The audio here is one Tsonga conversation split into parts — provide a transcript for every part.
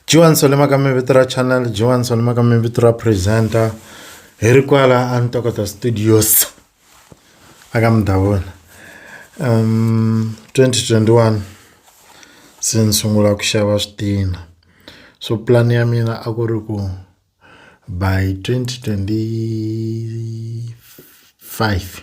Dyiwani sole mhaka mi vito ra channel dyiwani sole mhaka mi vito ra presenter hi ri kwala a Ntokoto studios a ka Mdavuna twenty twenty one se ni sungula ku xava switina so pulani ya mina a ku ri ku by twenty twenty five.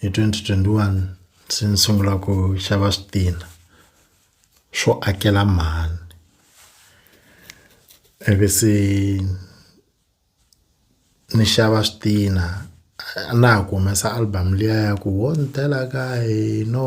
hi 2021 se ni sungula ku xava switina swo akela mhani ivi se ni xava switina na ha ku humesa album liya ya ku wo ni tela ka hina.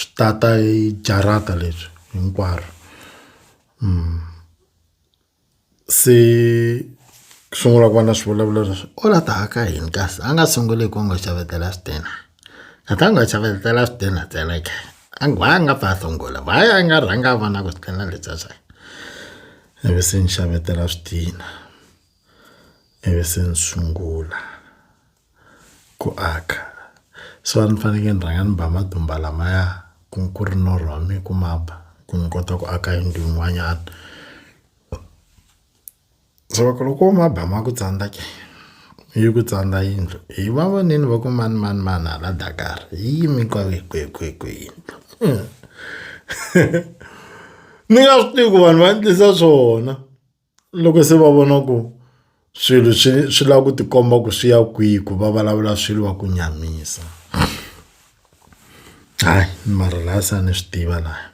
swi ta ta hi jarata leswi hinkwaro se ku sungula ku va na swivulavula leswi u la ta ka yini kasi a nga sunguli hi ku n'wi xavetela switina a ta n'wi xavetela switina ntsena ke a nga a nga pfa a sungula why a nga rhanga a vona ku switina leswiya swa yena ivi se ni xavetela switina ivi se ni sungula. ku aka so a ni fanekele ni rhanga ni ba matimba lamaya ku ku ri norho wa mina ku ma ba ku ni kota ku aka yindlu yin'wanyana so loko loko ma ba ma ku tsandza ke yi ku tsandza yindlu hi va vonile va ku mani mani mani hala Dakar hi yime kwale kwihikwihikwi yindlu ni nga swi tivi ku vanhu va endlisa swona. Loko se va vona ku swilo swi swi lava ku tikomba ku swi ya kwihi ku va vulavula swilo va ku nyamisa hayi mara laha se a ni swi tiva laha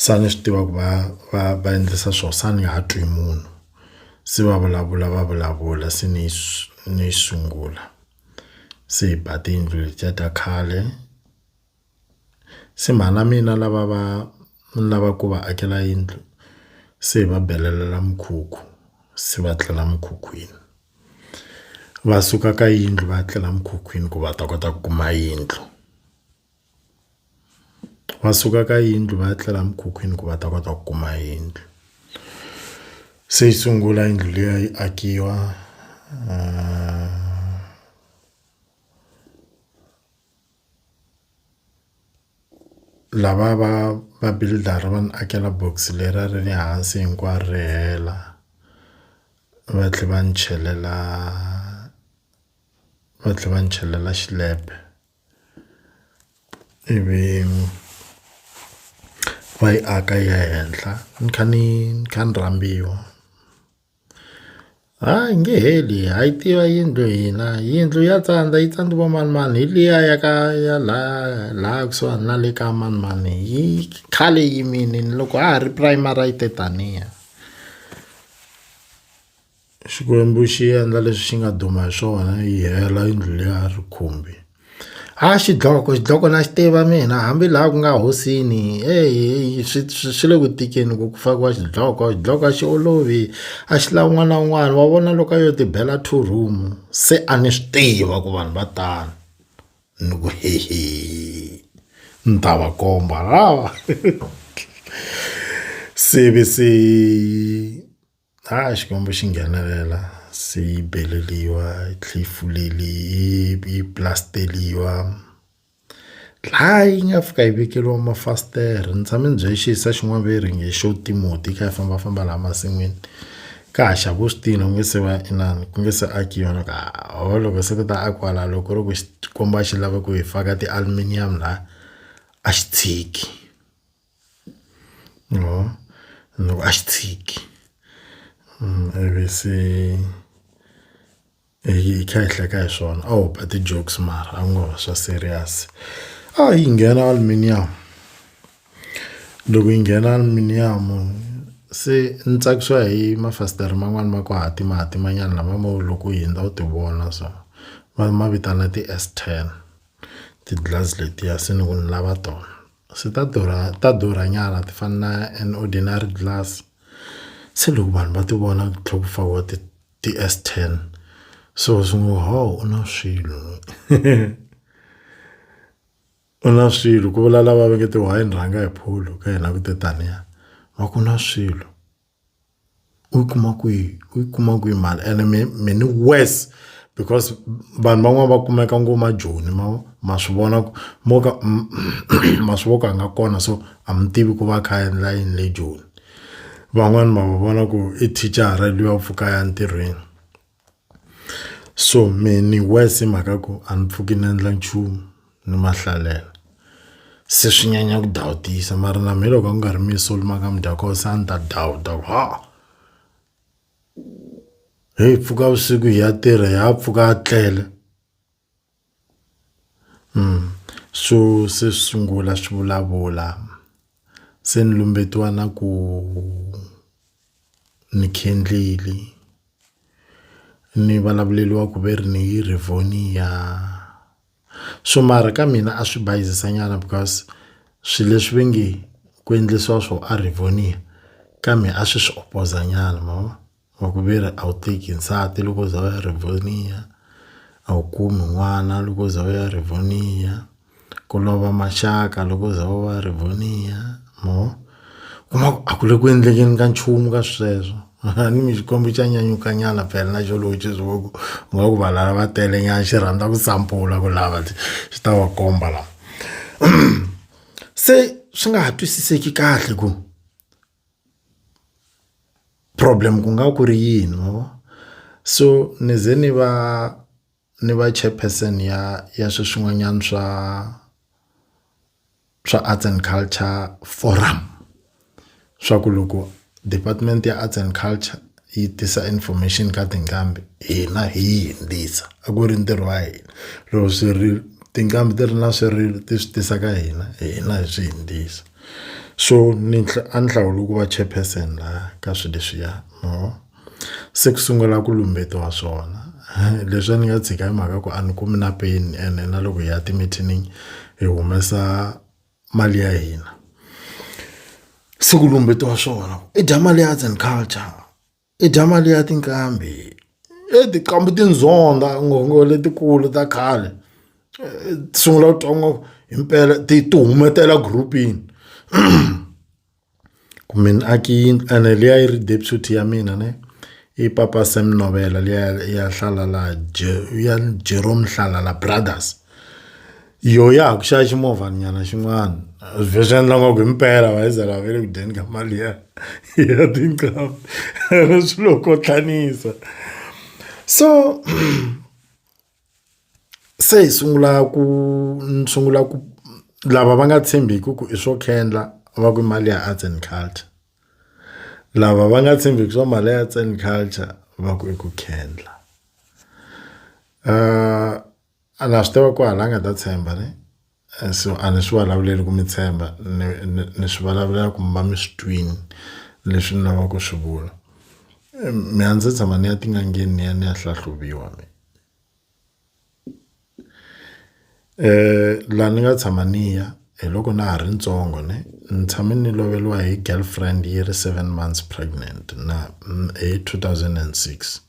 se a ni swi tiva ku va va va endlisa swo se a ni ha twi munhu se va vulavula va vulavula se ni ni sungula se hi ba tiyindlu letiya ta khale. Se mhana mina lava va ni lava ku va akela yindlu se hi va belelela mukhukhu se va tlela mukhukhwini va suka ka yindlu va ya tlela mukhukhwini ku va ta kota ku kuma yindlu va suka ka yindlu va ya tlela mukhukhwini ku va ta kota ku kuma yindlu se yi sungula yindlu liya yi akiwa . Lava va va builder va ni akela box leri a ri ri hansi hinkwaro ri hela va tlhela va ni chelela va tlhela va ni chelela xilepe ivi va yi aka yi ya henhla ni kha ni ni kha ni rambiwa. Ha yi nge heli ha yi tiva yindlu hina yindlu ya tsandza yi tsandziwa manimani hi liya ya ka ya la la kusuhani na le ka manimani yi khale yi yimile ni loko ha ha ri primary a yi te taniya Xikwembu xi endla leswi xi nga duma hi swona yi hela yindlu liya a ri khumbi. A xidloko xidloko na xi tiva mina hambi laha ku nga hosini heyi swi swi swi le ku tikeni ku ku fakiwa xidloko xidloko a xi olovi a xi lavi un'wana na un'wana wa vona loko a yo ti bela two room se a ni swi tiva ku vanhu va tano ni ku hehe ni ta va komba se ve se. Ha Xikwembu xi nghenelela se yi beleriwa yi tlhela yi fuleli yi pulasteriwa laha yi nga fika yi vekeriwa mafasitere ni tshame ni bye xiyisisa xin'wana va ring i xo timoti yi kha yi fambafamba laha masin'wini ka ha xava u swi tiva ku nga se va inana ku nga se akiwa na ka ho loko se ku ta a kwala loko ri ku xikwembu a xi lava ku hi faka ti-aluminium laha a xi tshiki. or loko a xi tshiki ivi se hi kha hi hleka hi swona a ho ba ti-jokes mara a ku nga va swa serious. A hi nghena aluminium, loko hi nghena aluminium se ni tsakisiwa hi mafasitere man'wani ma ku hatimahatimanyana lama mo loko u hundza u ti vona so va ma vitana ti-S ten ti-glass letiya se ni ku ni lava tona. se ta durha ta durha nyana ti fana na an ordinary glass se loko vanhu va ti vona ku tlhela ku fakiwa ti ti S ten so swi ngo ho u na swilo u na swilo ku vula lava va nge ti why ni rhanga hi pholo ka hina ku te taniya va ku na swilo. u yi kuma kwihi u yi kuma kwihi mali ene mi mi ni worse because vanhu van'wani va kumeka ngo ma joni ma vo ma swi vona ku mo ka ma swi vo ku a nga kona so a mi tivi ku va a kha a endla yini le joni van'wani ma va vona ku i thicara luya u pfuka a ya ntirhweni. so me ni worse hi mhaka ku a ni pfuki ni endla nchumu ni ma hlalela se swi nyanya ku dawutisa mara na me loko a ku nga ri mina so ni maka mi dya koho se a ni ta dawuta ku ha heyi pfuka vusiku hi ya tirha ya pfuka a tlele. Swo se swi sungula swi vulavula se ni lumbetiwa na ku ni khendlili ni vulavuleriwa ku ve ri ni yi Rivonia swo mara ka mina a swi bayizisa nyana because swilo leswi va nge ku endlisiwa swo a Rivonia kambe a swi swi opoza nyana ma vo. wa ku ve ri a wu teki nsati loko u za u ya rivoniya a wu kumi n'wana loko u za u ya rivoniya ku lova maxaka loko u za u ya rivoniya ma vo kuma ku a ku le ku endlekeni ka nchumu ka sweswo a ni mi xikwembu xa nyanyuka nyana phela na xona loko xi swi vona ku u nga ku vanhu lava va tele nyana xi rhandza ku sampula ku lava xi ta va komba lava se swi nga ha twisiseki kahle ku. problem ku nga ku ri yini ma vo so ni ze ni va ni va chairperson ya ya swi swin'wanyana swa swa Arts and Culture forum swa ku loko department ya Arts and Culture. yi tisa information ka tinqambi hina hi yi hindzisa a ku ri ntirho wa hina loko swi ri tinqambi ti ri na swi ri ti swi tisa ka hina hina hi swi hindzisa so ni a ni hlawula ku va chairperson laha ka swilo leswiya mo se ku sungula ku lumbetiwa swona leswi a ni nga tshika hi mhaka ku a ni kumi na peni ene na loko hi ya timithinini hi humesa. mali ya hina se ku lumbetiwa swona i dya mali ya arts and culture i dya mali ya tinqambi e tinqambi tindzonda ngopfu letikulu ta khale ti sungula ku twa ngopfu himpela ti ti humetela group-ini. Ku me ni aki yindlu ene liya yi ri deputy ya mina ne i papa Sam Novela liya ya hlala laha ya Jerome Hlala brothers yo ya ha ku xava ximovha nyana xin'wana vhe swi endla ngaku himpela va yi ze va ve le ku dyeni ka mali ya ya tinqambi ene swi lo kotlanisa so. se hi sungula ku ni sungula ku lava va nga tshembiki ku i swo khendla va ku mali ya arts and culture lava va nga tshembiki swa mali ya arts and culture va ku i ku khendla a na swi tiva ku hala a nga ta tshemba ne. so a ni swi vulavuleli ku mi tshemba ni ni, ni swi vulavulela ku mi va mi swi twini leswi ni lavaka ku swi vula mi a ndzi tshama ni ya tin'angeni ni ya ni ya hlahluviwa mi um laha ni nga tshama ni ya hi loko na ha ri ntsongo ne ni tshame ni loveriwa hi girlfriend yi ri seven months pregnant na hi two thousand and six.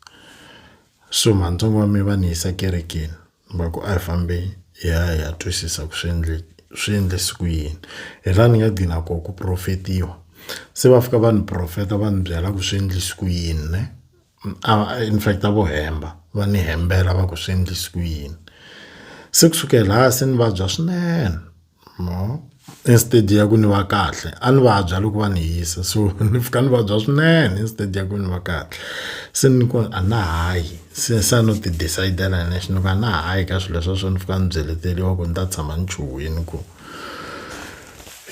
So mantsongo wa mina va ni yisa kerekeni va ku a hi fambi hi ya hi ya twisisa ku swi endle swi endlise ku yini hi laha ni nga gcina koho ku profetiwa se va fika va ni profeta va ni byela ku swi endlise ku yini ne a in fact a vo hemba va ni hembela va ku swi endlise ku yini se kusukela laha se ni vabya swinene instead ya ku ni va kahle a ni vabya loko va ni yisa so ni fika ni vabya swinene instead ya ku ni va kahle se ni ku a na ha yi se se a no ti decidela hi nexe ni ku a na ha yi ka swilo swa so ni fika ni byeleteriwa ku ni ta tshama ni chuhile ku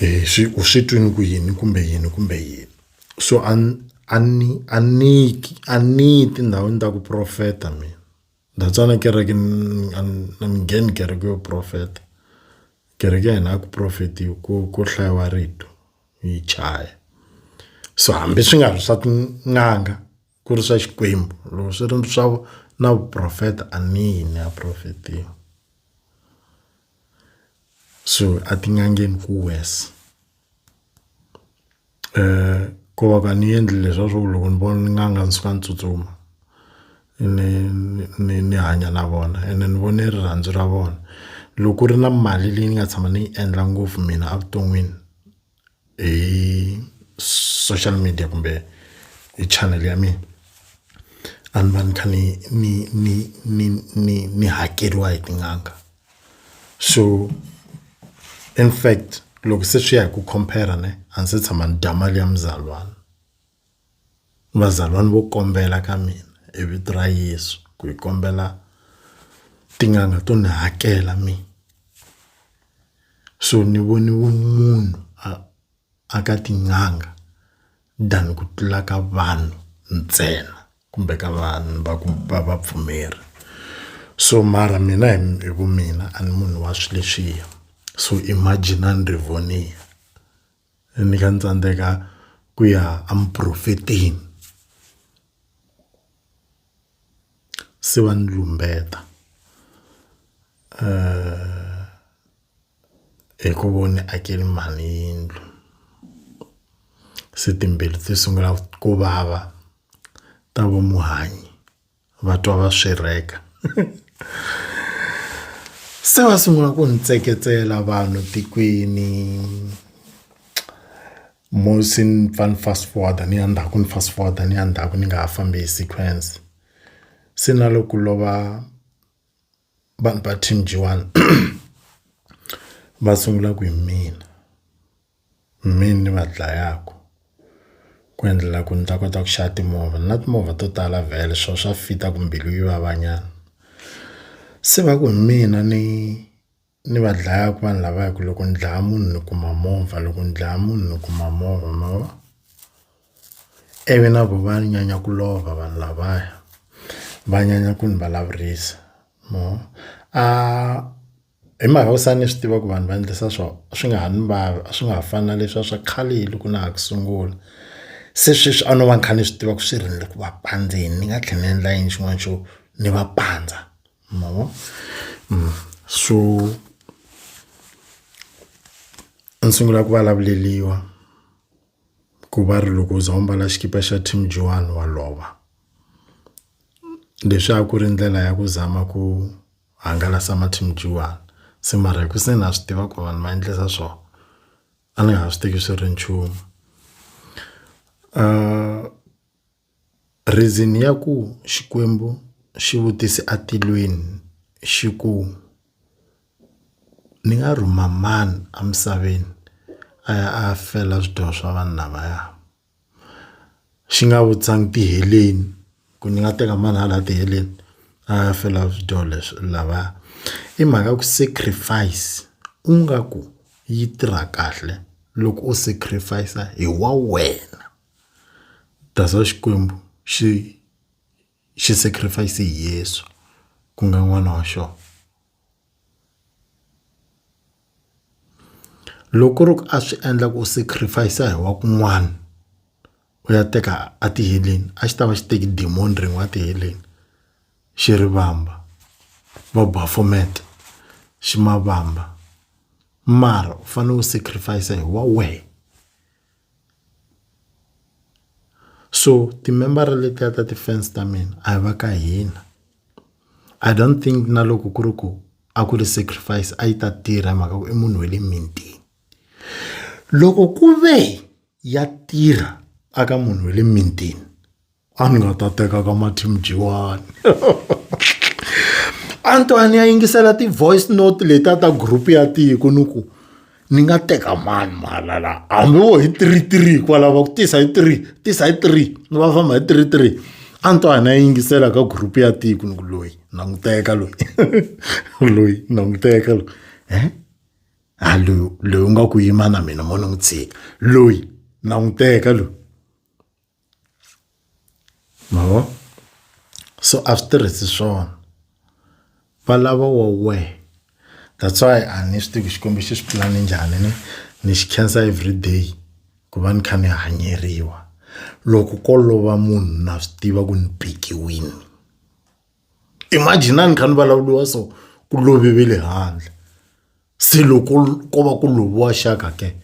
hi swi u swi twini ku yini kumbe yini kumbe yini so a ni a ni a ni a ni yi tindhawini ta ku profeta mina. Ndza tsana kereke a ni ngheni kereke yo profeta kereke ya hina a ku profetiwi ku ku hlayiwa rito hi chaya so hambi swi nga ri swa tin'anga ku ri swa Xikwembu loko swi ri swa na vuprofeta a ni yi ni ya profetiwa so a tin'angeni ku worse. ku va ka ni endli leswa swo loko ni vona n'anga ni suka ni tsutsuma ni ni ni hanya na vona ene ni vone rirhandzu ra vona loko ku ri na mali leyi ni nga tshama ni yi endla ngopfu mina evuton'wini hi social media kumbe hi channel ya mina a ni va ni kha ni ni ni ni ni ni hakeriwa hi tin'anga. so in fact loko se swi ya hi ku compare ne a ndzi se tshama ni dya mali ya muzalwana vazalwana vo kombela ka mina hi vito ra Yeso ku hi kombela tin'anga to ni hakela mi so ni vone vumunhu a a ka tin'anga than ku tlula ka vanhu ntsena. kumbe ka vanhu va ku va vapfumeri so mara mina hi hi vu mina a ni munhu wa swi leswiya so imagine a ni ri vonia ni kha ni tsandzeka ku ya a muporofetini se va ni lumbeta hi ku vo ni akele mhani yindlu se timbilu ti sungula ku vava ta va muhanyi va twa va swirheka se va sungula ku ni tseketsela vanhu tikweni mo se ni pfa ni fast forward ni ya ndzhaku ni fast forward ni ya ndzhaku ni nga ha fambi hi sequence se na loko ku lova vanhu va team G1 va sungula ku hi mina mina ni va dlayaka ku endlela ku ni ta kota ku xava timovha na timovha to tala vhele swo swa fita ku mbilu yi vavanyana se va ku hi mina ni Ni va dlayaka vanhu lava hi ku loko ni dlaya munhu ni kuma movha loko ni dlaya munhu ni kuma movha ma vo ivi na vo va nyanya ku lova vanhu lavaya va nyanya ku ni vulavurisa ma vo a hi mhaka ku se ni swi tiva ku vanhu va endlisa so a swi nga ha ni vava a swi nga ha fani na leswiya swa khale loko na ha ku sungula se sweswi a no va ni kha ni swi tiva ku swi rindze ku va pandzeni ni nga tlhela ni endla yini xin'wana xo ni va pandza. No. Mm. So ni sungula ku vulavuleliwa ku va ri loko u za u mbala xikipa xa team joani wa lova leswi a ku ri ndlela ya ku zama ku hangalasa ma-team joani se mara hi ku se na swi tiva ku vanhu va endlisa swona a ni nga ha swi teki swi ri nchumu . Reason ya ku Xikwembu xi vutise a tilweni xi ku ni nga rhuma mani emisaveni a ya a ya fela swidyoho swa vanhu lavaya xi nga vutisangi tiheleni ku ni nga teka mani hala tiheleni a ya fela swidyoho leswi lavaya i mhaka ya ku sacrifice u nga ku yi tirha kahle loko u sacrifice hi wa wena. That's why Xikwembu xi xi sacrifice hi Yesu ku nga n'wana wa xona. Loko ku ri ku a swi endla ku sacrifice hi wa kun'wana u ya teka a ti heleni a xi ta va xi teki diamond rin'we a ti heleni xi ri vamba va Baphomet xi ma vamba mara u fanele u sacrifice hi wa wena. so timembara letiya ta ti-fans ta mina a hi va ka hina I don't think na loko ku ri ku a ku ri sacrifice a yi ta tirha hi mhaka ku i munhu wa le mintini loko ku ve ya tirha eka munhu wa le mintini. a ni nga ta teka ka mathimjiwani antwani ya yingisela ti-voice note letiya ta group ya tiko ni ku ni nga teka mani mahala laha hambi wo hi three three kwalava ku tisa hi three tisa hi three ni va famba hi three three antwani ya yingisela ka group ya tiko ni ku loyi na n'wi teka loyi loyi na n'wi teka loyi e a loyi loyi u nga ku yima na mina mo ni n'wi tshika loyi na n'wi teka loyi Ma vo? So a swi tirhisi swona. Va lava wa wehe. That's why a ni swi tivi Xikwembu xi swi pulane njhani ni ni xi khensa everyday ku va ni kha ni hanyeriwa. Loko ko lova munhu na swi tiva ku ni pekiwini. Imagine a ni kha ni vulavuriwa so, ku love va le handle. Se loko ko va ku loviwa xaka ke?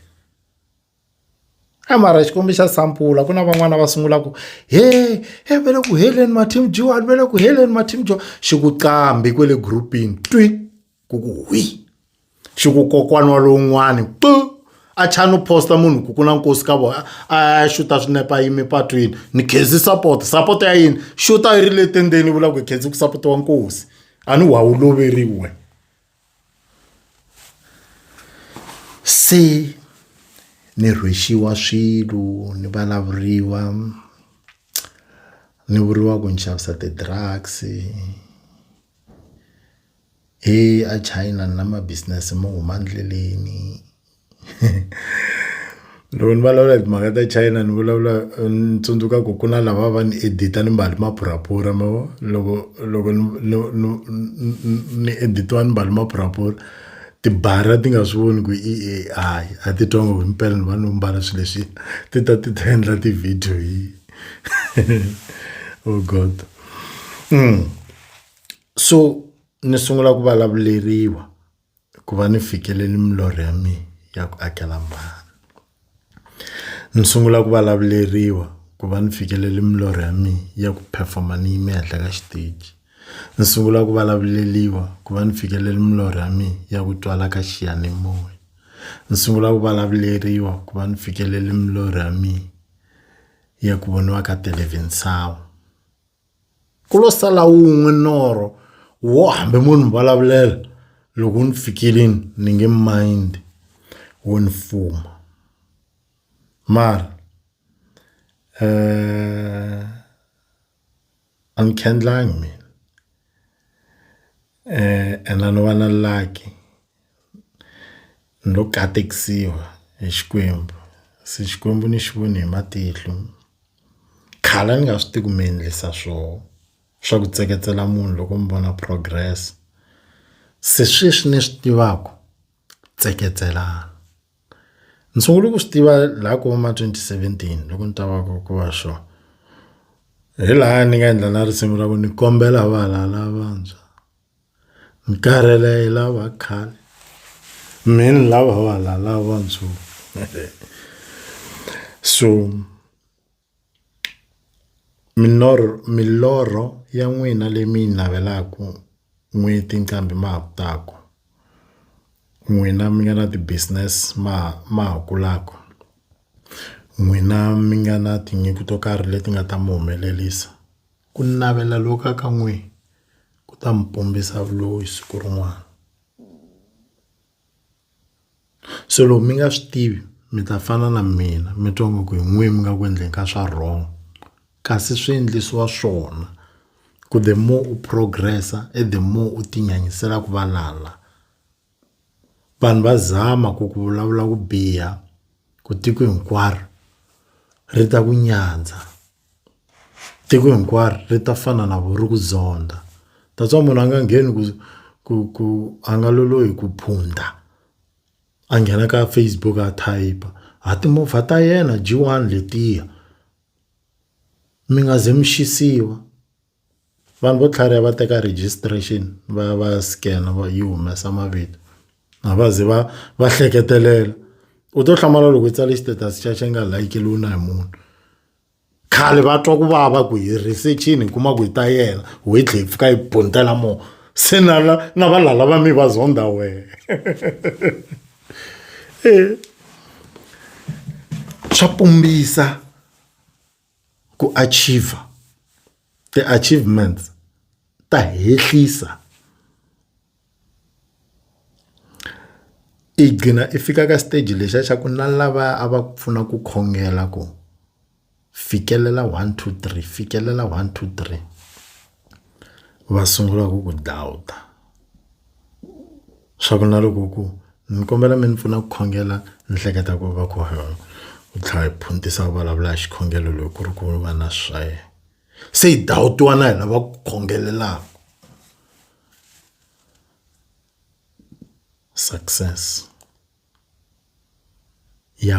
A mara Xikwembu xa sampula ku na van'wana va sungulaka ku he he va le ku heleni ma-team Johan va le ku heleni ma-team Johan xi ku qambhi kwale group-ini twi ku ku hwi xi ku kokwana wa lowun'wani pu a chani u posta munhu ku ku na nkosi ka vona a ya xuta swinepe a yime patwini ni khensa support support ya yini xuta yi ri le tendzeni yi vula ku hi khensa ku sapotiwa nkosi a ni wa wu loveriwi wena. Se ni rhwexiwa swilo ni vulavuriwa ni vuriwa ku ni xavisa ti-drugs a China ni na ma-business mo huma endleleni. loko ni vulavula hi timhaka ta China ni vulavula ni tsundzuka ku ku na lava va ni edit-a ni mbale maphuraphura ma vo loko loko ni ni ni ni edit-iwa ni mbale maphuraphura tibara ti nga swi voni ku i A_I a ti twa ngo himpela ni va ni mbala swi leswi ti ta ti ta endla ti-video hi oh God so ni sungula ku vulavuleriwa. hikuva ni fikeleli milorho ya mina ya ku akela mhana ni sungula ku vulavuleriwa ku va ni fikeleli milorho ya mina ya ku perform-a ni yime henhla ka xiteji ni sungula ku vulavuleliwa ku va ni fikeleli milorho ya mina ya ku twala ka xiyanimoya ni sungula ku vulavuleriwa ku va ni fikeleli milorho ya mina ya ku voniwa ka television sawa. ku lo sala wun'we norho wo hambi mo ni vulavulela loko ni fikile ni nge mind wo ni fuma mara um a ni khendlangi mina and a no va na lucky ni lo katekisiwa hi Xikwembu se Xikwembu ni xi vone hi matihlo khale a ni nga swi tivi ku mi endlisa swona swa ku tseketsela munhu loko mi vona progress se sweswi ni swi tivaka tseketselana. Ndzi sungule ku swi tiva laha ku va ma twenty seventeen loko ni ta va ku ku va sure hi laha ni nga endla na risimu ra ku ni kombela vana lavantshwa ni karhele hi lava khale me ni lava vana lava ntsongo so. Milorho milorho ya n'wina leyi mi yi navelaka n'hweti nqambi ma ha ku taka. N'wina mi nga na ti-business ma ha ma ha kulaka, n'wina mi nga na tinyiko to karhi leti nga ta mi humelerisa. Ku navela loku nga ka n'wina, ku ta mi pumbisa vuloyi siku rin'wana. se loko mi nga swi tivi mi ta fana na mina mi twa nga ku hi n'wina mi nga ku endleni ka swa wrong kasi swi endlisiwa swona ku the more u progress i the more u ti nyanyisela ku valala vanhu va zama ku ku vulavula ku biha ku tiko hinkwaro ri ta ku nyandza. tiko hinkwaro ri ta fana na vona ri ku zondha that's why munhu a nga ngheni ku ku ku a nga lolohi ku phunta a nghena ka Facebook a type a timovha ta yena G one letiya mi nga ze mi xisiwi. Vanhu vo tlhariha va teka registration va ya va ya scan-a va yi humesa mavito. A va ze va va hleketelela. U to hlamala loko u tsale status xa xa nga like-riwi na hi munhu. Khale va twa ku vava ku hi research-ini hi kuma ku hi ta yena, ho yi tlhela yi pfuka yi buntela moo. Se na na na valala va mina va zonda wehe. Swa pumbisa. ku achiever ti-achievements ta hehlisa i gcina i fika ka xiteji lexiya xa ku na lava a va ku pfuna ku khongela ku fikelela one two three fikelela one two three va sungula ku ku dlawuta. swa ku na loko ku ni kombela mi ni pfuna ku khongela ni hleketa ku va ku u tlhela a phuntisa a vulavula hi xikhongelo loko ku ri ku va na swa yena se hi dawutiwa na hina va ku khongelelaka success ya .